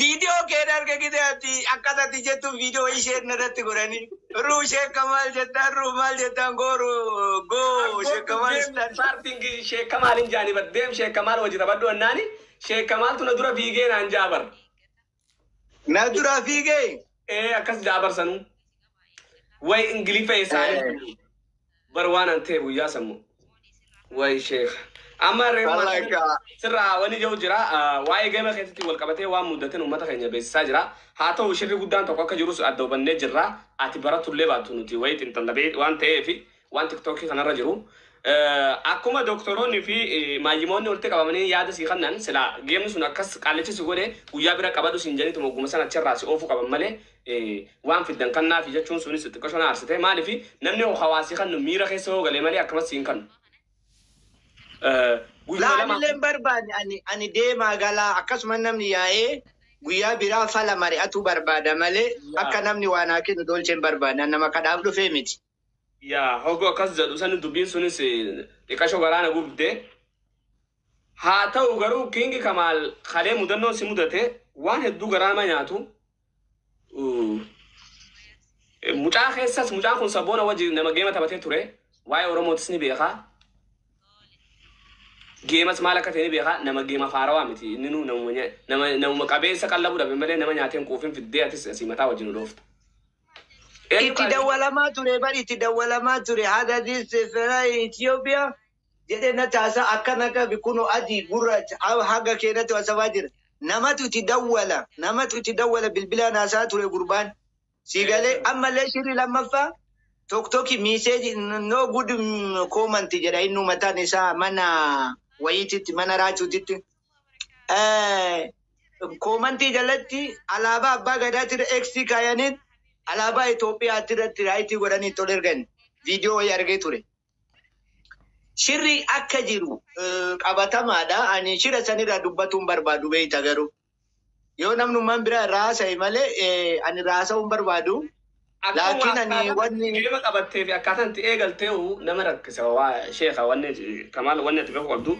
Video kee darge gide ati akkata ati jettu video wayii share narratti godhani. Ruu sheekka maal jettaan ruu maal jettaan goo ruu goo sheekka maal istaan. Starting sheek kamaal hin jaani bar deem sheek kamaal waji tabadhu annaani sheek kamaaltu na dura fiigee naan jaa bar. Na dura fiigee. ee akkas ja'a barsanuu way ingiliffa eessaanii Eh. bar waan an ta'e guyyaa sammu way sheekh amma reefu Wallaahi maasii kaa. sirraa wani jiru jira ah, waa'ee gama keessatti wal qabatee waan mudateen uummata keenya beeksisaa jira haa ta'u shirri guddaan tokko akka jirus adda hubannee jirra ati baratullee baattu nuti wayii xinxallabee waan ta'eef Waan tiktoki kanarra jiru akkuma doktoroonni fi maayyimoonni walitti qabamanii yaada sii kannan sila geemni sun akkas qaalicha si godhe guyyaa bira qabadhu siin janitu mogguma sana achirraa si oofuu qaban malee waan fiddan kannaa fi jechuun sunis xiqqashoo na aarsite maaliif namni hoo hawaasi kannu miira keessa hoo galee malee akkamas siin kannu. Guyyaa lama Laanillee barbaanne ani ani deemaa galaa akkasuma namni yaa'ee guyyaa biraa fala mari'atuu barbaada malee akka namni waan haa kennu dolcheen barbaanne nama kadhaaf dhufee miti. Yaa hogo akkas jedhu sani dubiin sunis xiqasho garaa na gubde haa ta'u garuu kingi kamaal kalee mudannoon si mudate waan hedduu garaa nama nyaatu mucaa keessas mucaan kun saboona wajji nama geema taphatee ture waa'ee oromootis ni beekaa geemas maal akka ta'e ni beekaa nama geema faarawaa miti inni nu nama qabeessa qallabu dhabe malee nama nyaateen quufin fiddee atis asii mataa wajjin dhoofta Itti dawwalamaa ture bar itti dawwalamaa ture hada this fera Ethiopia jedhe na taasa akkan akkan kuno adii gurraacha a- haga keenatu asafaa jira namatu itti dawwala namatu itti dawwala bilbilaan haasaa ture gurbaan sii galee Eessa? ammallee shirri lammaffaa tokkoki miiseeji no good koomanti jedha inni umataan isaa mana wayiititti mana raachuutitti koomantii jalatti alaabaa abbaa gadaatira X kaayaniit alaabaa Itoophiyaatti irratti raayitii godhanii tol ergan viidiyoo wayii argee ture. Shirri akka jiru qabatamaadha. Ani shira sanirraa dubbatuun barbaadu beeyta garuu. Yoo namnummaan biraa irraa haasa'e malee eh, ani irraa haasa'uu hin barbaadu. Akka Laakiin waa ani akkaataa wanni geema qabattee fi akkaataa itti eegaltee hoo nama rakkisa waa sheeka wanni kamaal wanni ati beeku qabdu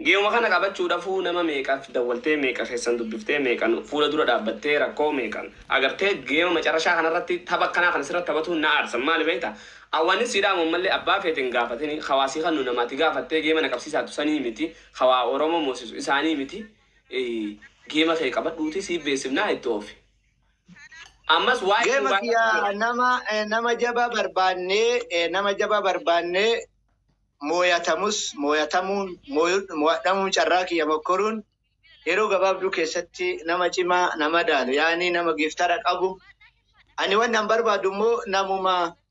geema kana qabachuudhaafuu nama meeqaaf dawwaltee meeqa keessan dubbiftee meeqan fuula dura dhaabbattee rakkoo meeqan agartee geema macarashaa kanarratti tapha akkanaa kana sirratti taphatuun na aarsan maali beekta awwanni siidhaa ammallee abbaa feetiin gaafatini hawaasii kan nu namaati gaafattee geema na qabsiisaatu sanii miti hawaa oromoo moosisu isaanii miti Geema kee qabadhuuti siif beeksifnaa itti oofi. Ammas waa'ee Geema Dubaay kiya irratti jira. nama eh, nama jaba barbaanne eh, nama jaba barbaanne mooyatamus mooyatamuun mooyu- moo'adhamuun carraa kiyya mokkoruun yeroo gabaabduu keessatti nama cimaa nama daalu yaani nama giftara qabu ani wanni an barbaadu immoo namuma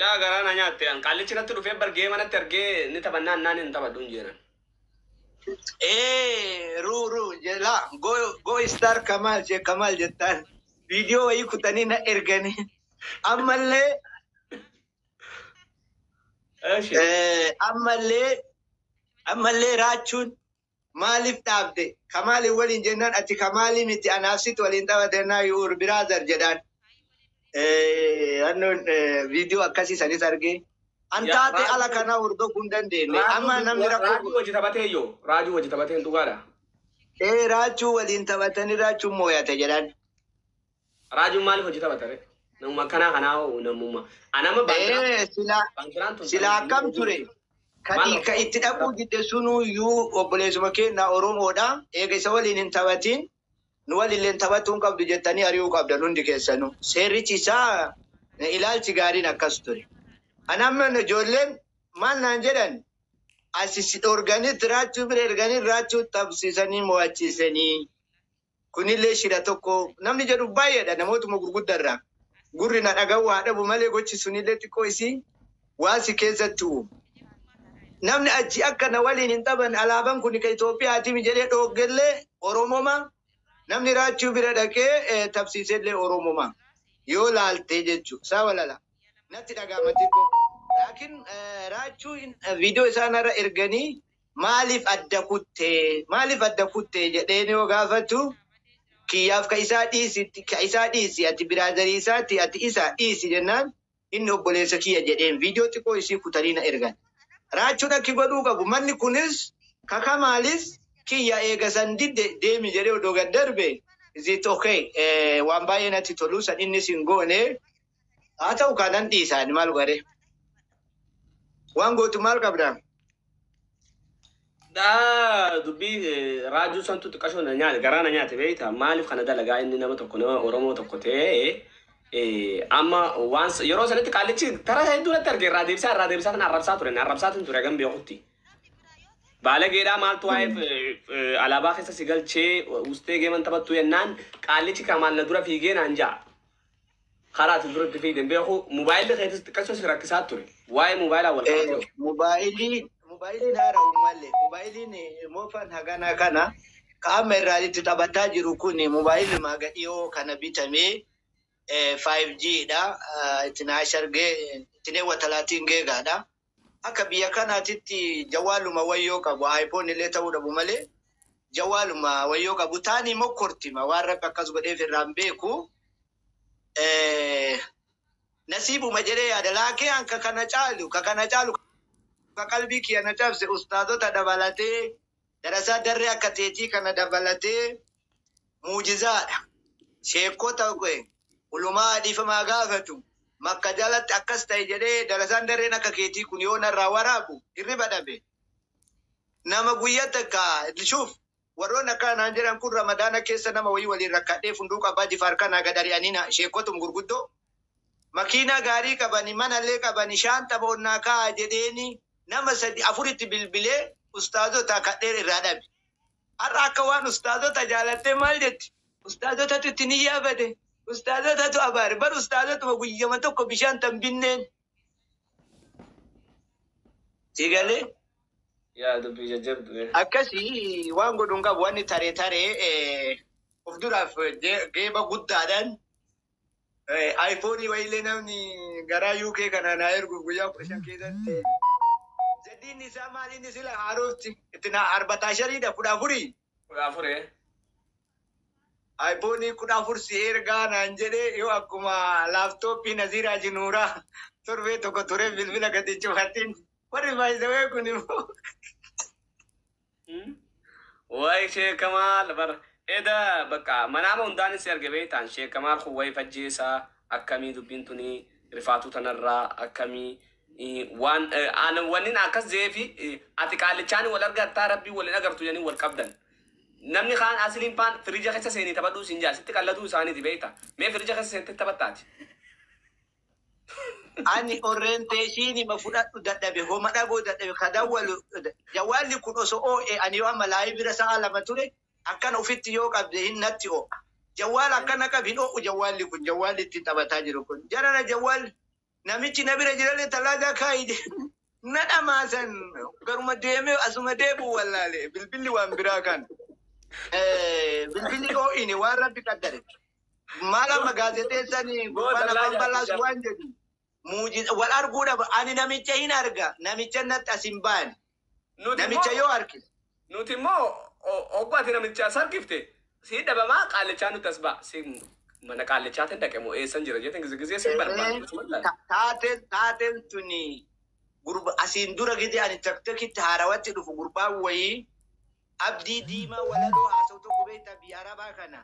Yaa garaa na nyaatte an qaallichi natti dhufee bar geema natti argee ni taphannaa annaan hin taphadhu hin jeenan. Ee ru ru jela go go star kamal she kamal jettaan video wayii kutanii na erganii ammallee Eshi. eh, ammallee ammallee raachuun Maaliif dhaabde? Kamaaliin waliin jennaan ati Kamaalii miti anaaf situ waliin tapha jennaan your brother jedhaan. Annoon viidiyoo akkasii sanis argee. An taatee ala kanaa hordofuu hin dandeenye. Amma namni rakkoo. Raajuu wajji taphatee yoo? Raajuu wajji taphateen dhugaadha? Ee raachuu waliin taphatanii raachuun mooyate jedhaan. Raajuun maaliif hojii taphata ree? Namuma akkanaa kanaa hoo namuma. Ana amma baandiraan Ee, sila baandiraan tun sila akkam hojii ture? hojii Ka maal i- ka rakkoo itti dhaquu rakkoo didde sunuu iyyuu obboleessuma keenya Oromoodha. Eega isa waliin hin taphatiin nu waliilleen taphachuu hin qabdu jettanii ari'uu qabdan hundi keessanuu. Seerrichi isaa eh, ilaalchi gaariin akkas ture. An amma ijoolleen maal naan jedhan asi si dhorganii raachuu bira erganii raachuu taphsiisanii mo'achiisanii. kunillee shira tokko namni jedhu baay'eedha namootuma gurgudda irraa gurri na dhaga'u haa dhabu malee gochi sunillee xiqqoo isii waan si keessatti uumu. Namni achi akka na waliin hin taphanne alaaban kun kan Itoophiyaatimi jedhee dhooggellee Oromoma namni raachuu bira dhaqee eh, tabsiisellee Oromoma yoo laaltee jechuu isaa walala natti dhagaama xiqqoo. Laakiin eh, raachuu in- eh, viidiyoo isaanarra erganii maaliif adda kutte maaliif adda kutte jedheen yoo gaafatu kiyyaaf ka isaa dhiisi ka isaa dhiisi ati biraazarii isaati ati isa dhiisi jennaan inni obboleessa kiyya jedheen viidiyoo xiqqoo isii kutanii na ergan. Raachuun akki godhuu qabu manni kunis ka kamaalis kiyya eega san didde deemi jedhee odoo gad darbe is it okay waan baay'ee natti tolu san innis hin goone haa ta'u kaa nan dhiisa ani maal godhee waan gootu maal qabda Daa dubbii eh, raajuu santu xiqqashoo na nyaate garaa na nyaate beekta maaliif kana dalagaa inni nama tokko nama Oromoo tokko ta'ee eh, amma waan s- yeroo sanatti qaallichi tara hedduu natti arge irraa deebisaa irraa deebisaa tan arrabsaa ture na arrabsaa tan ture hagam beekutti. Baalageedhaa maaltu waa'eef eh, eh, alaabaa keessa si galchee ustee geeman taphattu jennaan qaallichi kamaal na dura fiigee naan ja'a. Karaa ati dura itti fiigde hin beeku. Mobaayilli keetis xiqqachuun si rakkisaa ture. Waa'ee mobaayilaa wal qabatee hoo? Mobaayilii mobaayiliin haara uummalle mobaayiliin moofaan haganaa kana ka amma irraa itti taphataa jiru kun mobaayilli maaga dhiyoo kana bitamee 5G dha. Itti naashargee itti neewwatalaatiin geegaadha. Akka biyya kanaatitti jawaaluma wayyoo qabu iPhone illee ta'uu dhabu malee jawaaluma wayyoo qabu taanii mokkortima waan rabbi akkas godheef irraa hin beeku Eh, nasiibuma jedhee yaada laakee an ka kana caalu ka kana caalu ka qalbii kiyya na cabse ustaazota dabalatee Darasaa darree akka teetii kana dabalatee muujizaadha. Sheekkota ulumaa dhiifamaa gaafatu makka jalatti akkas ta'e jedhee darasaan darreen akka keetii kun yoo narraa waraabu hirriba dhabe. Nama guyya takka shuuf warroonni akkana naan jedhan kun ramadaana keessa nama wayii waliin rakkadhee funduu qabaa jifaar kanaa gad ari'anii na sheekkotum gurguddoo makiinaa gaarii qabani manallee qabani shaanxa foon naa kaa'a jedheeni nama sadi afuritti bilbilee ustaazotaa kadhee irraa dhabe har'a akka waan ustaazota jaalattee maal jetti ustaazotatu itti niyyaa bade ustaazotatu abaare bar ustaazotuma guyyama tokko bishaan tan binneen si galee yaa dubbii jajjabdu bee. akkasi waan godhu hin qabu wanni tare tare eh, of duraaf eh, ge- geeba guddaadhaan Ayfoonii wayiillee namni garaa UK kanaa naa erguuf guyyaa kudha shan keessatti. Jaddiin isaa maaliin sila haarofti itti naa arbatashariidha kudha afurii. Kudha afuree. Ayfoonii kudha afur si ergaa naan jedhee yoo akkuma laaptooppii Naziiraa Jinuuraa torbee tokko turee bilbila gadi cufatiin warri baay'isawee kun immoo. Wayi Sheek Kamaal bar eda bakka manaama hundaan si arge beektaan Sheek Kamaal kun wayi fajjeessa akkamii dubbiin tuni rifaatuu tanarraa akkamii eh, waan eh, aan- wannin akkas jeefi eh, ati qaallichaan wal argattaa rabbii wal hin agartu jedhanii wal qabdan. Namni kaan asiliin paan firija keessa seenii taphadhuu siin jaa sitti qalladuu isaaniiti beekta. Mee firija keessa seentee taphattaati. ani orientation ma fudhadhu dadhabe homa dhagoo dadhabe ka dawwalu jawwaalli kun oso oo'e ani yoo amma laayi bira sa'a lama ture akkana ofitti yoo qabde hin natti oo'a jawwaala akkana qab hin oo'u jawwaalli kun jawwaalli ittiin taphataa jiru kun jarana jawwaal namichi na bira jirallee tallaagaa kaa'i jedhe. Na dhamaasan garuma deemee asuma deebi'u wallaale bilbilli waan biraa kan eh, bilbilli dhoo'ine waan rabbi qaddare. Maal amma gaazexeessan gurbaan afaan balaas waan jedhu muujiza wal arguu dhaba ani namicha hin arga namicha natti as hin baane namicha yoo arge Nuti immoo hogguu ati namicha as argifte sii dhabamaa qaallichaa nutti as ba'a. Si mana qaallichaatiin dhaqe moo eessan jira jeetiin gizee gizee sin barbaadu osuma ilaalu. Ta- taateen taateen tuni gurba asiin dura gidi ani taktakitti haarawatti dhufu gurbaan wayii abdii diimaa walaloo haasa'u tokko beektaa biyya arabaa kana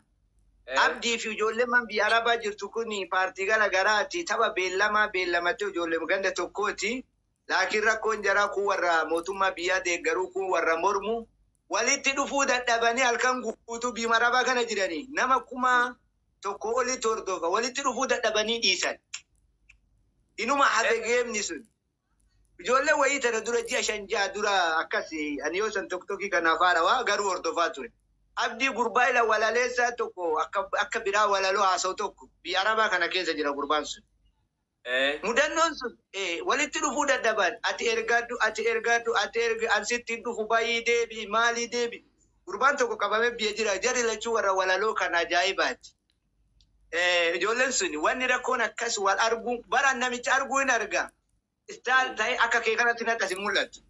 Eh, abdii fi ijoolleen man biyya arabaa jirtu kun paartii gara garaati tapha beellamaa beellamatee ijoolleen ganda tokkooti laakiin rakkoon jaraa kuun warra mootummaa biyyaa deeggaruu kuun warra mormu walitti dhufuu dadhabanii halkan guutuu biyuma arabaa kana jiranii nama kuma tokko olitti hordofa walitti dhufuu dadhabanii dhiisan inuma hafe geemni sun ijoollee wayii tana dura ji'a shan ja'a dura akkas ani yoo san tokkokkii kana afaara waa garuu hordofaa ture abdii gurbaa ila walaleessaa tokko akka akka biraa walaloo haasa'u tokko biyya arabaa kana keessa jira gurbaan sun Mudannoon sun walitti dhufuu dadhaban ati ergadhu ati ergadhu ati ergi an sitti hin dhufu bahii deebi'i maalii deebi'i gurbaan tokko qabame biyya jira jarri lachuu warra walaloo kan ajaa'ibaati ijoolleen sun wanni rakkoon akkas wal arguu baran namicha arguu hin arga istaal ta'e akka kee kanatti natti as hin mul'atu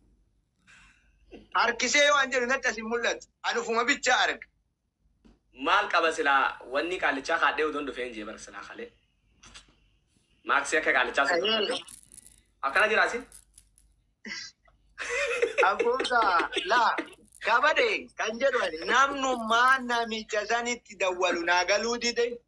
harkisee yoo an jedhu natti as hin mul'atu an ufuma bichaa arga Maal qaba silaa wannii qaallichaa kaadhee utuun dhufeen jee bara silaa kalee. Maaksii akka qaallichaa sun Ayee. tolfadhee. Akkana jiraa si? Abboota laa kabade kan jedhu ani namnummaa namicha sanitti dawwalu naa galuu dide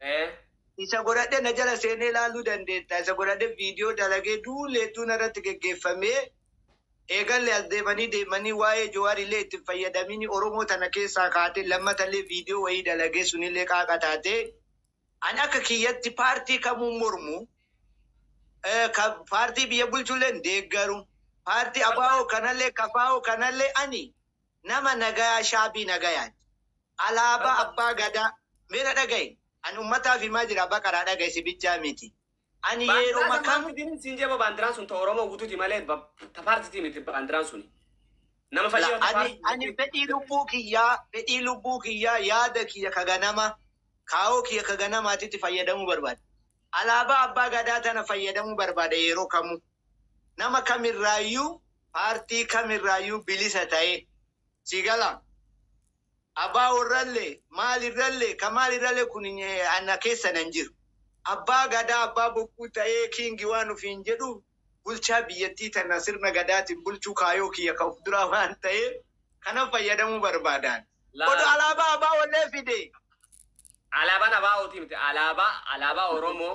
Eh. Isa godhadhe na jala seenee ilaaluu dandeetta. Isa godhadhe viidiyoo dalagee duulli hedduun irratti geggeeffamee eegalle as deemanii deemanii waa'ee Jowaar illee itti hin fayyadamini Oromoo tana keessaa kaatee lammata illee viidiyoo wayii dalagee sun illee qaaqa taatee ani akka kiyyatti paartii kamuun mormu eh, ka- paartii biyya bulchu illee hin deeggaru paartii abaa'oo kanallee kafaa'oo kanallee ani nama nagayaa shaabii nagayaati. Alaabaa Abbaa Gadaa mee na dhagahi ani ummataaf himaa jira baqaraa dhagahi si bichaa miti ani yeeroma Baandiraa san maal kamu fidini siin jee baandiraan sun ta Oromoo gututi malee ba- ta paartiti miti baandiraan suni. Nama fedhii la yoo ta ani paarti ani jettee fedhii lubbuu kiyyaa fedhii lubbuu kiyyaa yaada kiyya ka ganama kaayoo kiyya ka ganamaatitti fayyadamuu barbaada alaabaa abbaa gadaa tana fayyadamuu barbaada yeroo kamuu nama kamirraayyuu paartii kamirraayyuu bilisa ta'ee Sii galaa? Abbaa worrallee, maalirrallee, ka maalirrallee kun na keessa nan jiru. Abbaa Gadaa, Abbaa Bokkuu ta'ee King waan ufiin jedhuuf, bulchaa biyyattii tana sirna Gadaatiin bulchuu kaayoo kiyya ka uf duraa waan ta'eef, kanaf fayyadamuu barbaadaan. Odo Alaabaa ABOllee fide! Alaabaan ABO tii miti, Alaabaa, Alaabaa Oromoo.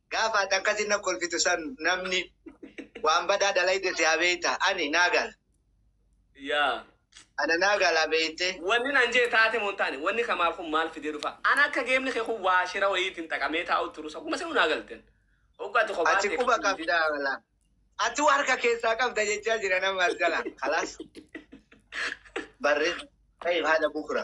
Gaafa ati akkasi na kolfitu san namni waan badaa dalayde si habeeyta. Ani naa gala. Yaa. Ana naa gala beeyte. Wanni nan jee taate moo hin taane? Wanni Kamaal kun maal fidee dhufa? Ana akka geemni kee kun waa shira wayiitiin xaqamee taa'u turus akkuma sanu naa galten. Hoggu ati kophaa Ati tee quba qabdu hin qabda wala. Ati waa harka keessaa qabda jechaa jira nama as jala. Kalaas. Barre. Tayyib haadha bukra.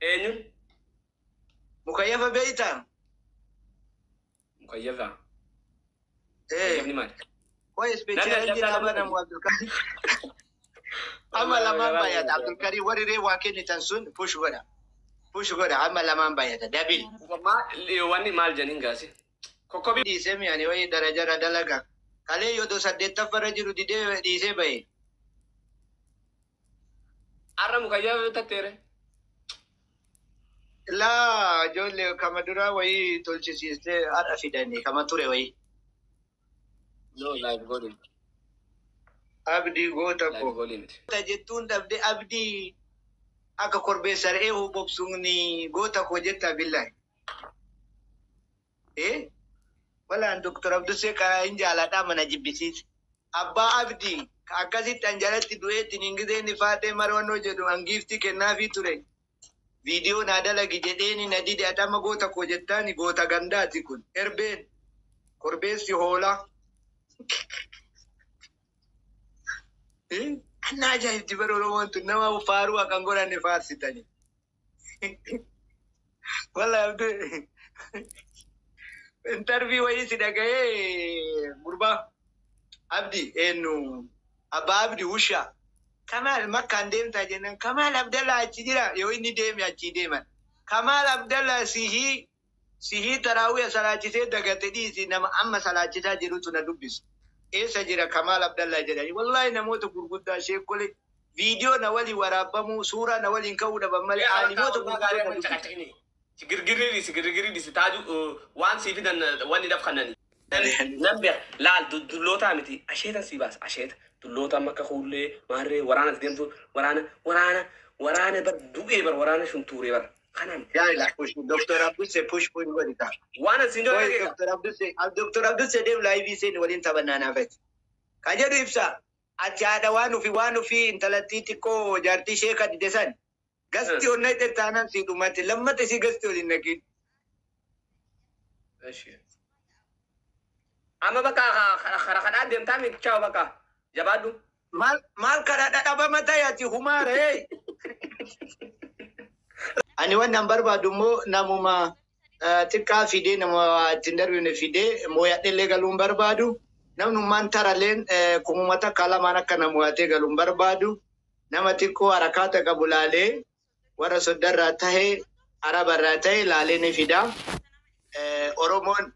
Eenyu? Mukayyafa beektaa? Mukayyafa. Ee. Mukayyafni maali? Qoy Namni ispeechaalenjii adda addaa naa qabna. banamu Abdulkarim. Amma lamaan baay'ata Abdulkarim warri ree waa kennitan sun push godha. Push godha amma lamaan baay'ata dabil. Maa- li- Wanni maal jedhaniin gaasi? Kokkobii. Dhiisee mi'aanii wayii darajarra dalaga. Kalee yoo saddeettaffarra jiru didee dhiisee bahe. Arra mukayyaa yoo tatteere. Laa ijoollee kama duraa wayii tolchisiistee har'a fidanii kama ture wayii. No live godhi. Abdii goota Live koo. godhi miti. Goota jettuun dhabde abdii akka korbeessa re'ee hobobsuun goota koo jetta billahi. Ee walaan Dr. Abdussee kana hin jaaladhaa mana jibbisiise. Abbaa Abdi ka akkasitti an jalatti du'ee tiniin gizee inni Faaxee Marwannoo jedhu an giiftii kennaafii ture viidiyoo naa dalagi jedheeni na dide ati amma goota koo jettaani goota gandaati kun erbeen korbeessi hoolaa. Ee, Kan na ajaa'ibdi bara Oromoon tun nama faaruu akka hin godhanne faarsitani. Wala abdu intervii wayii si dhaga'ee gurbaa abdi eenyu abbaa abdi wushaa kamaal makkaan deemtaa jennaan kamaal abdallaa achi jira yoo inni deeme achii deeman kamaal abdallaa sihii Sihii taraawwiha salaachisee dagate dhiisi nama amma salaachisaa jirutu na dubbise eessa jira kamaal abdallaa jedhanii wallaahi namoota gurguddaa sheekkole viidiyoo na waliin waraabbamuu suuraa na waliin ka'uu dhaban malee Yaa Abbaa aalimoota Ormaa gurguddoo gaaree na amma hin dubbise. caqacaqini. Girgirri dhiisi girgirri dhiisi taaju waan sii fidan wanni dhaf kannani. Nan beeka laal dullootaa miti asheetan sii baasa asheeta dulloota amma akka kuullee maarree waraana ati deemtu waraana waraana waraana bar du'ee bar waraana shuntuuree bar Kanan guys push Dr. Abdul se push push godhi ka. Waan as hin Qoy dhoofne Dr. Abdul se Dr. Abdul se deem live seen waliin taphannaa naaf ati. Ka jedhu ibsa ati haadha waan ufi waan ufi intalattii xiqqoo jaartii ishee ka dide san gasti ol naqxe taanan sii dhumate lammata isii gasti ol hin naqin. Eshi. Amma bakka kara kanaa deemtaa miti chaaw bakka jabaadhu. Mal mal kana dhadhabama ta'i ati humaara hey. Ani waan nan barbaadu immoo namuma eh, xiqqaa fidee nama ittiin darbine fidee mooyadhellee galuun barbaadu. Namnummaan taraleen eh, kumuma takka lamaan akka na mooyatee galuun barbaadu. Nama xiqqoo harakaata qabu laalee warra soddarraa tahe arabarraa tahe laalee ni fida. Eh, Oromoon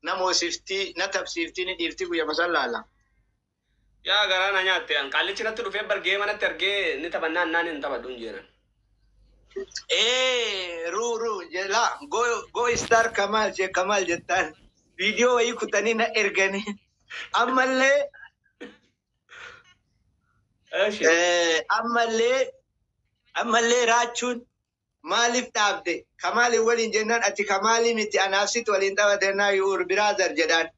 na moosiftii na tabsiiftii ni dhiiftii guyyama san laala. Yaa garaa na nyaatte an qaallichi natti dhufee bar geema natti argee ni taphannaa annaan hin taphadhu hin jeenan. Ee ru ru jela go go star kamal she kamal jettaan video wayii kutanii na erganii ammallee Eshi. eh, ammallee ammallee raachuun Maaliif dhaabde? Kamaaliin waliin jennaan ati Kamaalii miti anaaf situ waliin taphata jennaan your brother jedhaan.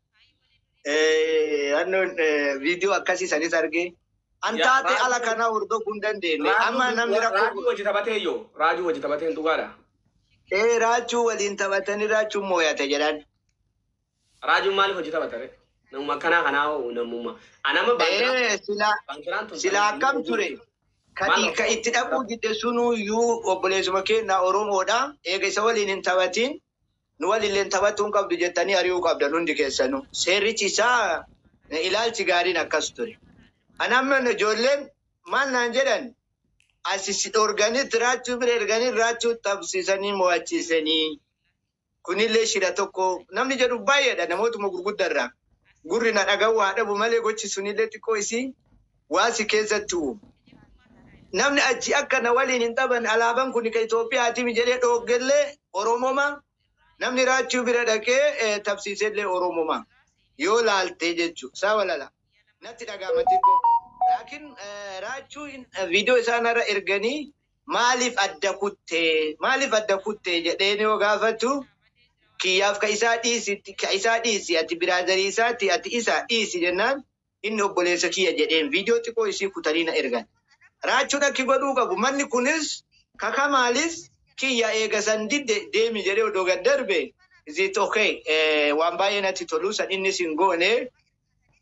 Eh, Annoon eh, viidiyoo akkasii sanis argee. An Yaa, taatee raajii- ala kanaa hordofuu hin dandeenye. Amma Raajuu namni raajuu rakkoo wajji taphatee yoo raajuu wajji taphateen dhugaadha. ee raachuu waliin taphatanii raachuun mooyate jedhan. Raajuun maaliif hojii taphata ree? Namuma akkanaa kanaa hoo namuma. Ana amma baandiraan Ee, sila baandiraan tun sila akkam baandiraan ture? Maal Kati ka rakkoo? itti dhaquu didde sunuu iyyuu obboleessuma keenya Oromoodha. Eega isa waliin hin taphatiin nu walillee hin taphatuu hin qabdu jettanii ari'uu qabdan hundi keessanuu. Seerrichi isaa eh, ilaalchi gaariin akkas ture. Kan amma ijoolleen maal naan jedhan asi si dhorganii raachuu bira erganii raachuu taphsiisanii mo'achiisanii. kunillee shira tokko namni jedhu baay'eedha namootuma gurgudda irraa gurri na dhaga'u haa dhabu malee gochi sunillee xiqqoo isii waa si keessatti uumu. Namni achi akka na waliin hin taphanne alaaban kun ka Itoophiyaatimi jedhee dhooggellee Oromoma namni raachuu bira dhaqee eh, tabsiisellee Oromoma yoo laaltee jechuu saa walala natti dhagaama xiqqoo laakiin eh, raachuu in- eh, viidiyoo isaanarra erganii maaliif adda kutte maaliif adda kutte jedheen yoo gaafatu kiyyaaf ka isaa dhiisi ka isaa dhiisi ati biraazarii isaati ati isa dhiisi jennaan inni obboleessa kiyya jedheen viidiyoo xiqqoo isii kutanii na ergan. Raachuun akki godhuu qabu manni kunis ka kamaalis kiyya eega san didde deemi jedhee odoo gad darbe is it okay waan baay'ee natti tolu san innis hin goone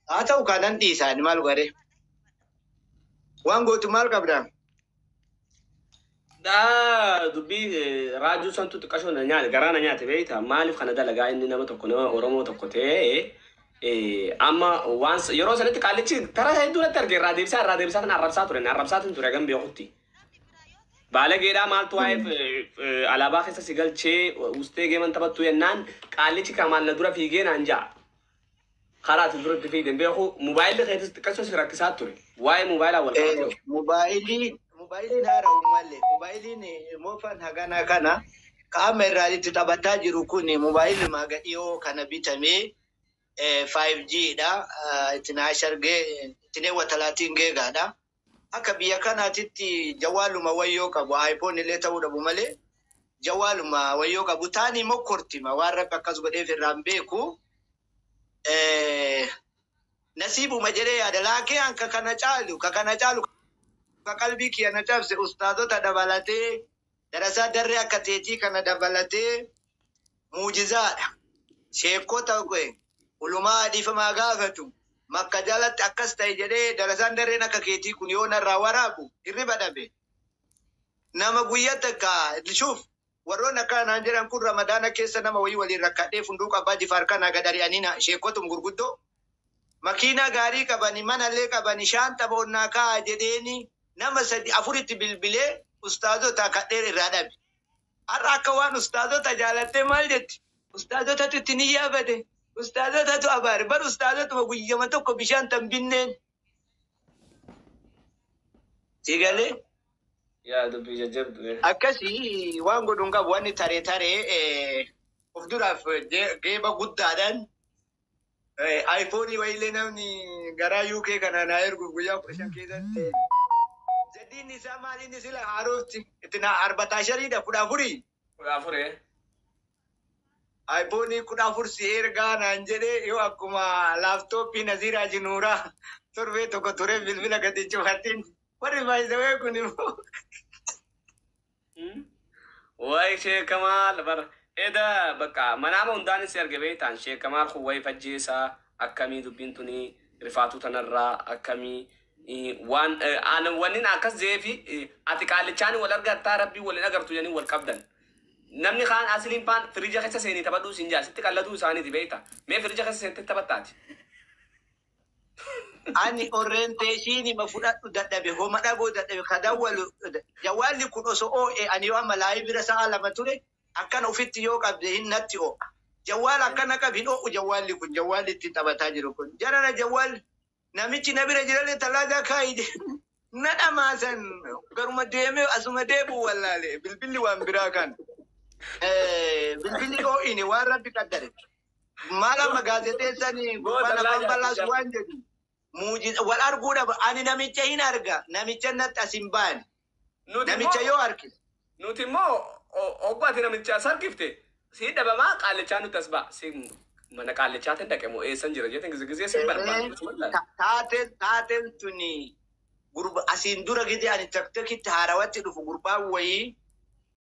haa ta'u kaa nan dhiisa ani maal godhee waan gootu maal qabda Daa dubbii eh, raajuu santu xiqqashoo na nyaate garaa na nyaate beekta maaliif kana dalagaa inni nama tokko nama Oromoo tokko ta'ee eh, amma waan s- yeroo sanatti qaallichi tara hedduu natti arge irraa deebisaa irraa deebisaa tan arrabsaa ture na arrabsaa tan ture hagam beekutti. Baalageedhaa maaltu waa'eef eh, eh, alaabaa keessa si galchee ustee geeman taphattu jennaan qaallichi kamaan na dura fiigee naan ja'a. Karaa ati dura itti fiigde hin beeku. Mobaayilli keetis xiqqachuun si rakkisaa ture. Waa'ee mobaayilaa wal qabatee hoo? Mobaayilii mobaayiliin haara uummalle mobaayiliin moofaan haganaa kana ka amma irraa itti taphataa jiru kun mobaayilli maaga dhiyoo kana bitamee 5G dha. Itti naashargee itti neewwatalaatiin geegaadha. Akka biyya kanaatitti jawaaluma wayyoo qabu iPhone illee ta'uu dhabu malee jawaaluma wayyoo qabu taanii mokkortima waan rabbi akkas godheef irraa hin beeku Eh, nasiibuma jedhee yaada laakee an ka kana caalu ka kana caalu ka qalbii kiyya na cabse ustaazota dabalatee Darasaa darree akka teetii kana dabalatee muujizaadha. Sheekkota ulumaa dhiifamaa gaafatu makka jalatti akkas ta'e jedhee darasaan darreen akka keetii kun yoo narraa waraabu hirriba dhabe. Nama guyya takka shuuf warroonni akkana naan jedhan kun ramadaana keessa nama wayii waliin rakkadhee funduu qabbaa jifaar kanaa gad ari'anii na sheekkotum gurguddoo makiinaa gaarii qabani manallee qabani shaanxa foon naa kaa'a jedheeni nama sadi afuritti bilbilee ustaazotaa kadhee irraa dhabe. Har'a akka waan ustaazota jaalattee maal jetti? Ustaazotatu itti niyyaa bade, ustaazotatu abaare bar ustaazotuma guyyama tokko bishaan tan binneen. Sii galee? Yaa dubbii jajjabdu ee. Akkasi waan godhu hin qabu wanni tare tare of duraaf geeba guddaadhaan Ayfoonii wayiillee namni garaa UK kanaa naa erguuf guyyaa kudha shan keessatti. Jaddiin isaa maaliin sila haarofti itti naa arbataa shariidha kudha afurii. Kudha afuree. Ayfoonii kudha afur si ergaa naan jedhee yoo akkuma laaptooppii Naziiraa Jinuuraa torbee tokko turee bilbila gadi cufatiin warri baay'isawee kun immoo. Wayi Sheek Kamaal bar eda bakka manaama hundaan si arge beektaan Sheek Kamaal kun wayi fajjeessa akkamii dubbiin tuni rifaatuu tanarraa akkamii waan wannin akkas jeefi ati qaallichaan wal argattaa rabbii waliin agartu jedhanii wal qabdan. Namni kaan asiliin faan firija keessa seenii taphadhuu siin jaa sitti qalladuu isaaniiti beekta mee firija keessa seentee taphattaati. ani orientation ma fudhadhu dadhabe homa dhagoo dadhabe ka dawwalu jawwaalli kun oso oo'e ani yoo amma laayi bira sa'a lama ture akkana ofitti yoo qabde hin natti oo'a jawwaala akkana qab hin oo'u jawwaalli kun jawwaalli ittiin taphataa jiru kun jarana jawwaal namichi na bira jirallee tallaagaa kaa'i Na dhamaasan garuma deemee asuma deebi'u wallaale bilbilli waan biraa kan eh, bilbilli dhoo'ine waan rabbi qaddare. Maal amma gaazexeessan gurbaan afaan balaas waan jedhu muujiza wal arguu dhaba ani namicha hin arga namicha natti as hin baane namicha yoo arge Nuti immoo hogguu ati namicha as argifte sii dhabamaa qaallichaa nutti as ba'a. Si mana qaallichaatiin dhaqe moo eessan jira jeetiin gizigizee sin barbaadu osuma laal. Taateen taateen tuni gurba asiin dura gidi ani taktakitti haarawatti dhufu gurbaan wayii